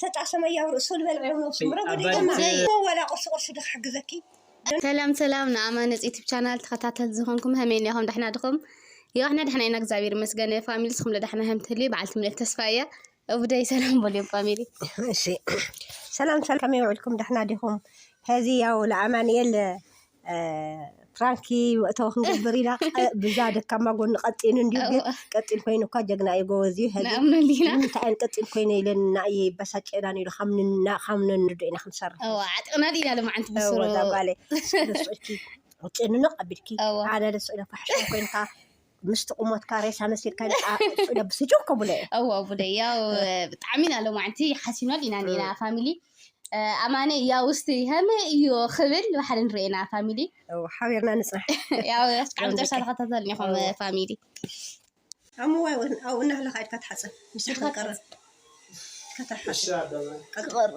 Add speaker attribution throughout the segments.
Speaker 1: ሰጣ ሰመያዊ ርእሱ ልበልዐ ውን ኣውሱ ምሮ ጎደይ ድማ እሞ ዋላ ቁርሲ ቁርሲ ዶ ክሕግዘኪ ሰላም ሰላም
Speaker 2: ንኣማነጽ ዩቲብ ቻናል ተኸታተል ዝኾንኩም ሀመይ ኒኹም ዳሕና ድኹም የዋሕና ዳሕና ኢና እግዚኣብሔር ይመስገን ፋሚሊ ስኹም ለዳሕና ሀም ትህልዩ በዓልቲ ምልእት ተስፋ እያ እቡደይ ሰላም በልዮም ፋሚሊ እሺ
Speaker 1: ሰላም ሰላም ከመይ ውዕልኩም ዳሕና ዲኹም ሀዚ ያው ለኣማንኤል ፕራንኪ መእተዊ ክንገብር ኢና ብዛ ደካማ ጎኒ ቀጢን እንዲዩ ግን ቀጢን ኮይኑ እኳ ጀግና እዩ ጎበዝ እዩ ሕዚ ንኣምነሉ ኢና ንምንታይ
Speaker 2: እየን ቀጢን ኮይነ
Speaker 1: ኢለን ንኣየ ይበሳጨናን ኢሉ ካብ ንና- ካብ ነንርዶ ኢና ክንሰርሕ እዋ ዓጥቕናሉ ኢና
Speaker 2: ልማዓንቲ እወ ብስሩ እዛ ጓለይ ስእሊ
Speaker 1: ስእልኪ ጭንንቕ ኣቢልኪ እወ። ኣነ ልስእለካ ሕሻም ኮይንካ ምስቲ ቁሞትካ ሬሳ መሲልካ ብስጩ ከብለ እወ ቡለ ያው
Speaker 2: ብጣዕሚ ኢና ሎማዕንቲ ሓሲኖል ኢና ኒና ፋሚሊ ኣማነ ያው ውስቲ ሃመ እዩ ክብል ባሕሪ ንርእና ፋሚሊ ሓቢርና
Speaker 1: ንፅናሕ ያው እስካዕ
Speaker 2: መጨረሻ ተኸታተል ኒኹም ፋሚሊ ኣምዋይ
Speaker 1: ኣብኡ እናሃለካ ኢድካ ትሓፅብ ምስ ከትቀርብ ከተሓፅ ክቐርብ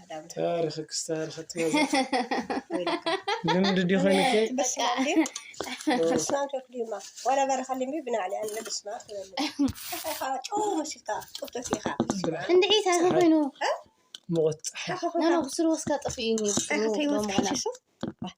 Speaker 1: ታሪክክስ ታሪክቲ
Speaker 3: ልምድ ዲ
Speaker 1: ኮይኑኪ እንድዒ ታሪክ
Speaker 2: ኮይኑ ሙቁት
Speaker 3: ፀሓይ ብስሩ
Speaker 2: ወስካ ጠፊኡ እዩ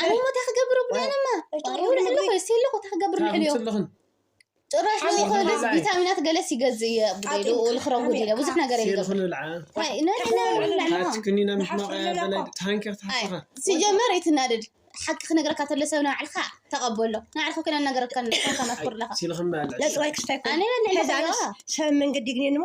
Speaker 1: ኣነ ሞ እንታይ
Speaker 2: ክገብር ኣብሉ ኣነማ ጭሩ ልዕሊ ኮ ሴለ ኮ እንታይ ክገብር ልዕሊ ዮ ጭራሽ ቪታሚናት ገለስ ይገዝእ እየ ብሉ ልክረጉድ እየ ብዙሕ ነገር
Speaker 3: ሲጀመር ይትናደድ
Speaker 2: ሓቂ ክነግረካ ተሎ ሰብ ናባዕልካ ተቐበሎ ናባዕልካ ኮይና ነገረካ ከመትኩር ኣለካ
Speaker 1: ኣነ በልዕ
Speaker 2: ሰብ
Speaker 1: መንገዲ ግን እሞ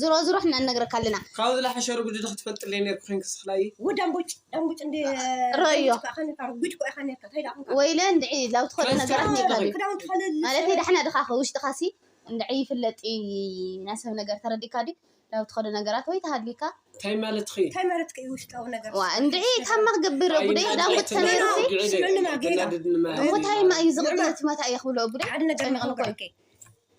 Speaker 3: ዝሮ
Speaker 2: ዝሮ ሕና እነግረካ ኣለና ካብዚ ዝላሓሸ ርጉድ
Speaker 3: ዶ ክትፈልጥለይ ነርኩ ኮንክ ስክላይ ወዲ ኣምቡጭ ኣምቡጭ
Speaker 1: እንደ ረዮ
Speaker 2: ጉጅ ኮ ኢኻ
Speaker 1: ነርካ እንታይ ዳኹንካ ወይለ እንድዒ ላብ
Speaker 2: ትኸዶ ነገራት ነርካ ክዳውንቲ ከለል
Speaker 1: ማለት ዳሕና
Speaker 2: ድኻ ውሽጥኻ ሲ እንድዒ ይፍለጥ ናሰብ ነገር ተረዲካ ዲ ላብ ትኸዶ ነገራት ወይ ተሃሊካ እንታይ ማለትኺ እንታይ
Speaker 3: ማለትኪ እዩ ውሽጣዊ
Speaker 1: ነገር ዋ እንድዒ ካብ
Speaker 2: መክገብር ጉደይ ዳንጉት ተነይሩ ሲ እሞ ታይማ እዩ ዝቕጥነት መታ እየ ክብሎ ጉደይ ሓደ ነገር ንቕንቆ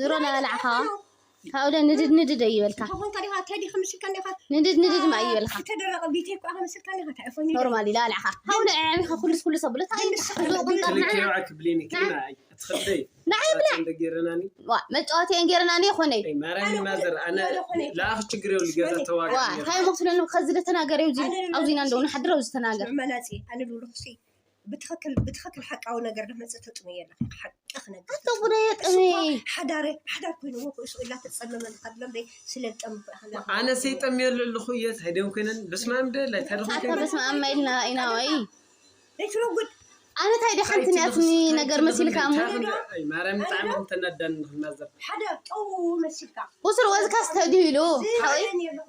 Speaker 1: ዝሮ ናበላዕኻ
Speaker 2: ካብኡለ ንድድ ንድድ ኣይበልካ
Speaker 1: ንድድ ንድድ ማ
Speaker 2: ኣይበልካ
Speaker 1: ኖርማል ኢላ ኣልዕኻ ካብኡለ
Speaker 2: ዕዕቢኻ ኩሉስ ኩሉ ሰብሎ ታይ ቁንጣር
Speaker 3: ንዓይ
Speaker 2: ብላዕ
Speaker 3: መጫወቲ እየን
Speaker 2: ገይረናኒ
Speaker 3: ይኾነይ ታይ መስለኒ
Speaker 2: ከዚ
Speaker 1: ተናገር
Speaker 2: ኣብዚ ኢና እንደው ንሓድር
Speaker 3: ኣብዚ
Speaker 2: ተናገር ብትክክል ብትክክል
Speaker 1: ሓቃዊ ነገር ድመፀ ተጥንዮ ኣለካ ሓቂ ክነግር ኣታ ጉዳይ ጥሪ
Speaker 2: ሓዳረ ሓዳር
Speaker 1: ኮይኑዎ ኩእሱ ኢላ ተፀመመ ካብሎም ደይ ስለ ዝጠምኩ ኣክላ ኣነ
Speaker 3: ሰይጠምዮ ኣለኹ እየ እንታይ ደም ኮይነን በስመ ኣብ ደለ እንታይ ደኹም ኣታ ኮይነን በስመ ኣብ ማይልና
Speaker 2: ኢና ወይ ዘይትረጉድ
Speaker 1: ኣነ ታይ ዲ ሓንቲ
Speaker 2: ንያትኒ ነገር መሲልካ እሞ ኣይ ማርያም
Speaker 3: ብጣዕሚ እንተናዳኒ ንክናዘር ሓደ ጠው
Speaker 1: መሲልካ ቁስል ወዝካስ
Speaker 2: ተዲሉ ሓወይ ዝባነኒ ኣለኹ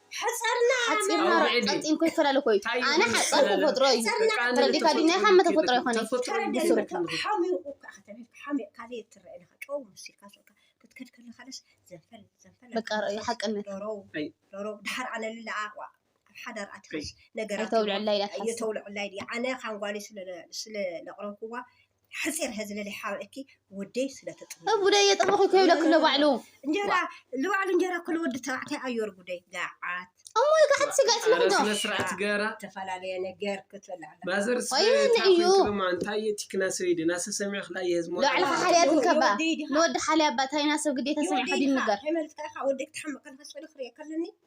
Speaker 3: ሓፂርና
Speaker 2: ሩዕ ቀጢን እኮ ይፈላለ እኮ እዩ ኣነ ሓፀር ተፈጥሮ እዩ
Speaker 1: ተረዲካ ድዩ ናይ ካመ ተፈጥሮ ይኮነ በቃ ርእዩ
Speaker 2: ሓቅነት
Speaker 1: ድሓር ኣነ ልለኣ ሓዳር ኣትክስ ነገራ የተውልዐላ
Speaker 2: ኢላ ትሓስብ ኣነ
Speaker 1: ካንጓሊ ስለ ለቕረብኩዋ ሓፂር ህዝልሊ ሓውዕኪ ወደይ ስለተጥ እቡደ የጠበኹ ከይብለክ
Speaker 2: ኣሎ ባዕሉ እንጀራ
Speaker 1: ልባዕሉ እንጀራ ኩሉ ወዲ ተባዕታይ ኣዮር ጉደይ ጋዓት እሞ ጋሕት ስጋ
Speaker 2: ይፍለክዶ ስነ ስርዓት ገራ
Speaker 3: ዝተፈላለየ ነገር
Speaker 1: ክትበላ ኣላ ማዘር ወይ
Speaker 3: እዩ። ስማ እንታይ እዩ ቲክና ሰይድ ናሰ ሰሚዕ ክላ የህዝሞ ልባዕሉ ሓልያ
Speaker 2: ትንከባ ንወዲ ሓልያ ኣባ ታይና ሰብ ግዴታ ሰሚዕ ከዲ ንገር ሃይማኖትካ ኢኻ ወደይ
Speaker 1: ክትሓምቕ ከለካ ስእሊ ክሪኦ ከለኒ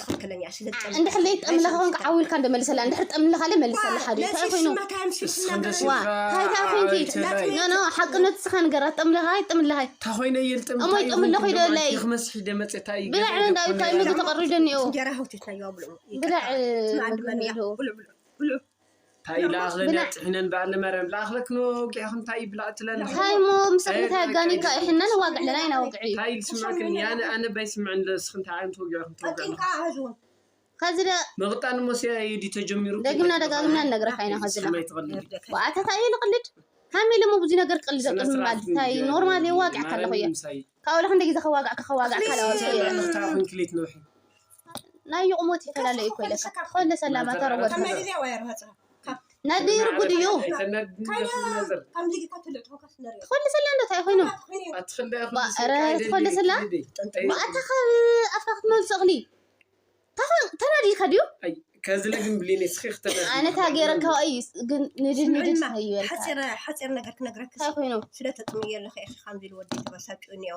Speaker 1: ትክክለኛ እንድሕር ዘይጠምለኻ
Speaker 2: ኮንካ ዓው ኢልካ እንደመልሰላ እንድሕር ጠምለኻ ለ መልሰላ ሓደ እንታይ ኮይኑ
Speaker 1: እንታይ
Speaker 2: ኮንኪ ኖ ኖ ሓቅነት ስኻ ንገራ ጠምለኻ ኣይጠምለኻይ ታኾይነ የልጥም እሞ
Speaker 3: ይጠምለኹ ኢለለይ
Speaker 2: ክመስሕ ደመፅ እንታይ
Speaker 3: ብላዕ እንዳ እንታይ ምግቢ
Speaker 2: ተቐሪዶ እኒኦ ብላዕ ምግቢ እኒኦ እንታይ ኢላ
Speaker 3: ኣኽለና ጥሒነን በዓል መርያም ላኣኽለክኖ ወጊዕኽን እንታይ ይብላ እትለን እንታይ እሞ ምሳኽ
Speaker 2: እንታይ ኣጋኒካ ይሕነን ዋግ ኣለና ኢና ወግዒ እንታይ ይስምዕክን ያነ
Speaker 3: ኣነ ባይስምዕን ለስኽ እንታይ ዓይነት ወጊዕኽን ተወግዕና
Speaker 1: ከዚ ደ
Speaker 2: መቕጣን እሞ
Speaker 3: ሲያ ኢዲ ተጀሚሩ ደግምና ደጋግምና ንነግረካ
Speaker 2: ኢና ከዚ ደ ዋኣተታ እዩ ልቕልድ ሃም ኢለ ብዙ ነገር ቅል ዘቅድም ባል እንታይ ኖርማል የዋግዕ ካለኹ እየ ካብኡ ለክ እንደ ግዜ ከዋግዕ ከዋግዕ ካለወ
Speaker 3: ናይ
Speaker 2: ይቕሞት ይፈላለ እዩ ኮይለካ ኮለ ሰላማ ተረወድ ነዲር ጉድ እዩ ትኾሊ ሰላ እንዶ እንታይ ኮይኑ ኧረ ትኾሊ ሰላ ብኣታ ካብ ኣፍካ ክትመልሶ እኽሊ ተናዲልካ ድዩ ከዝለ ግን
Speaker 3: ብሊን ስኺ ክትመልሲ ኣነ እታ ገይረካ
Speaker 2: እዩ ግን ንድድ ንድድ እዩ ሓፂር
Speaker 1: ነገር ክነግረክሲ እንታይ ኮይኑ ስለ
Speaker 2: ተጥምዮ ኣለኺ
Speaker 1: ኢኺ ከምዚ ኢሉ ወዲ ተበሳጭኡ እኒኦ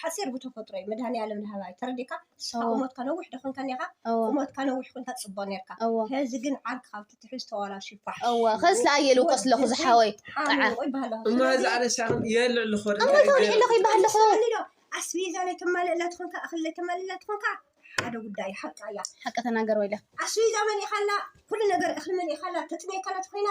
Speaker 1: ሓጺር ብተፈጥሮ እዩ መድሃኒኣለም ላህባይ ተረዲካ ንስካ ቁመትካ ነዊሕ ዶ ኮንካ ኔካ ቁመትካ ነዊሕ ኮንካ ጽቦ ኔርካ ሀዚ ግን ዓርኪ ካብ ትትሕዝ ተዋላሹ ፋሕ እወ ከስ ለኣየሉ
Speaker 2: ቆስ ለኹ ዝሓወይ ጣዓ እሞ
Speaker 3: ሀዚ ኣለሻኹ የልዕ ልኹ እሞ ተወሊዕ ለኹ ይባሃል
Speaker 2: ለኹ ኣስቤዛ ናይ
Speaker 1: ተማልእላ ትኾንካ እኽሊ ናይ ተማልእላ ትኾንካ ሓደ ጉዳይ ሓቃ እያ ሓቂ ተናገር
Speaker 2: ወይለ ኣስቤዛ መሊእካላ
Speaker 1: ኩሉ ነገር እኽሊ መሊእካላ ተጥሜካላ ትኮይና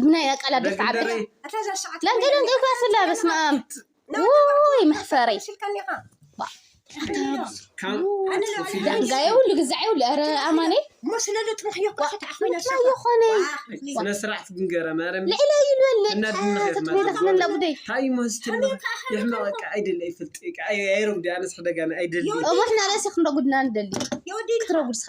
Speaker 2: ብናይ ኣቃላት ደፋዕ ኣቢላ ለንገ
Speaker 1: ለንገ ክላስላ
Speaker 2: በስመ ኣብ ውይ መሕፈሪ
Speaker 3: ዳንጋ
Speaker 2: የብሉ ግዛዕ የብሉ ኧረ ኣማኔ
Speaker 1: ይኾነ
Speaker 2: ስነ ስርዓት ግንገረ
Speaker 3: ማርያም ልዕለ ይልበል
Speaker 2: እናድንኽየትመላ ጉደይ ታይ ምህስትሉ
Speaker 3: ይሕመቕ ቃ ኣይደለ ይፍልጥ ቃ ኣይረጉዲ ኣነስ ሕደጋና ኣይደል እሞ
Speaker 1: ሕና ርእሲ
Speaker 3: ክንረጉድና
Speaker 1: ንደሊ
Speaker 3: ክትረጉድ ስኻ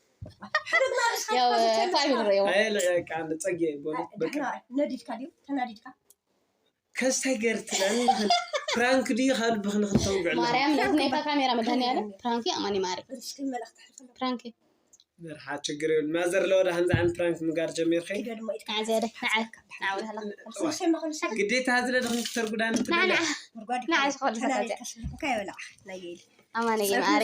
Speaker 2: ያው ፋሚሊ ረዮ ፀጌ
Speaker 3: ነዲድካ ድዩ ተናዲድካ
Speaker 1: ከስታይ
Speaker 3: ገርትና ፍራንክ ድዩ ካብ ልብክ ንክተውግዕ ማርያም ነዚ ናይታ ካሜራ
Speaker 2: መድሃኒኣለ ፍራንክ ኣማኒ ማሪ ፍራንክ መርሓ
Speaker 3: ችግር ይብል ማዘር ለወዳ ከምዚ ዓይነት ፍራንክ ምግባር ጀሚርኪ
Speaker 2: ግዴታ ዝለ
Speaker 3: ድክን ክተርጉዳ
Speaker 2: ንዓዝኮልሰ ኣማኒ ማሪ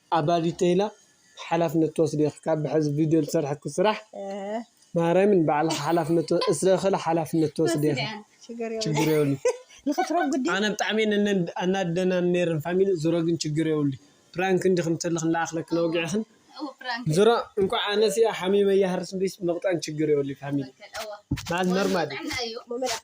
Speaker 3: ኣባ ዲተይላ ሓላፍነት ትወስዲ ኢኪ ካብ ብሐዚ ቪድዮ ዝሰርሐኪ ስራሕ ማርያምን ባዕልኪ ሓላፍነት እስረ እክለ ሓላፍነት ትወስዲ ኢኪ ችግር የብሉን ኣነ ብጣዕሚ እየን ኣናድደናኒ ነይረን ፋሚሊ ዝሮ ግን ችግር የብሉይ ፕራንክ እንዲክን ተለክን ላኣክለክን ኣውጊዕክን ዝሮ እንኳዕ ኣነስ እየ ሓሚመ ይሃርስ እምበይስ መቅጣን ችግር የብሉይ ፋሚሊ ማለት ኖርማል እዩ።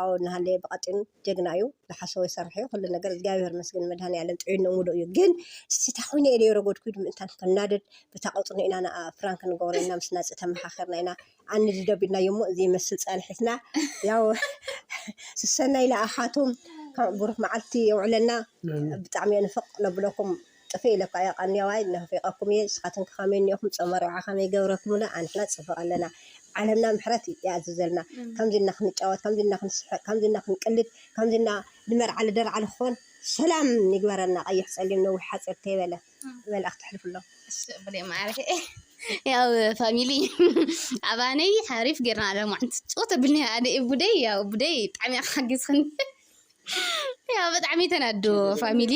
Speaker 1: ኣወ እንሃለየ ብቀጢን ጀግና እዩ ዝሓሰቦ ይሰርሕ እዩ ኩሉ ነገር እግዚኣብሔር ይመስገን ንመድሃኒኣለም ጥዒንኡ ሙሉእ እዩ ግን እስቲ እታ ኮይነ ኢለ የረጎድኩ ኢዩ ምእንታን ክናደድ በታ ቀጽኑ ኢና ንኣ ፕራንክ ንገብሮ ኢና ምስ ናጺ ተመካኪርና ኢና ኣንድዶ ኣቢልናዮ እሞ ዘይመስል ጸንሒትና ያው ስሰናይ ንኣኻቱም ከም ብሩክ መዓልቲ የውዕለና ብጣዕሚ እየ ንፍቅ ነብለኩም ጥፍእ ኢለኳ እየ ቃኒያዋይ ናፊቀኩም እየ ንስካትንከ ከመይ እኒኢኩም ፆመ ኣርብዓ ከመይ ገብረክምሉ ኣንሕና ፅብቅ ኣለና ዓለምና ምሕረት ይኣዝዘልና ከምዚ እና ክንጫወት ከምዚ እና ክንስሕቅ ከምዚ እና ክንቅልድ ከምዚ እና ንመርዓ ልደርዓ ንክኮን ሰላም ይግበረልና ቀይሕ ፀሊም ነዊሕ ሓፂር ተይበለ መልእክቲ ኣሕልፍሎም እሱ ብለይ ማዕረይ
Speaker 2: ያው ፋሚሊ ኣባነይ ሓሪፍ ጌርና ኣለ ማዓንቲ ፅወት ኣብልኒ ኣደ ቡደይ ያው ቡደይ ብጣዕሚ ሓጊዝኽኒ ያው ብጣዕሚ ተናዱ ፋሚሊ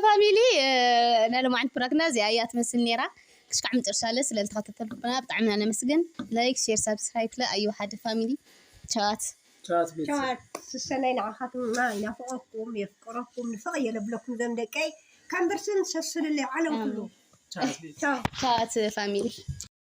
Speaker 2: ፋሚሊ ናይ ሎማዓንቲ ፕራክና እዚኣ እያ ትመስል ነይራ ክሽካዕ መጨረሻለ ስለ ዝተኸታተልኩና ብጣዕሚ ኢና ነመስግን ላይክ ሼር ሳብስክራይብ ክለ ኣዩ ሓደ ፋሚሊ ቸዋት ቸዋት ቤተሰብ
Speaker 1: ስሰናይ ንዓኻትማ ይናፍቐኩም የፍቅረኩም ንፍቕ የለብለኩም ዘም ደቀይ ከም ብርስን ሰስንለይ
Speaker 2: ዓለም
Speaker 1: ኩሉ
Speaker 2: ቻት
Speaker 1: ፋሚሊ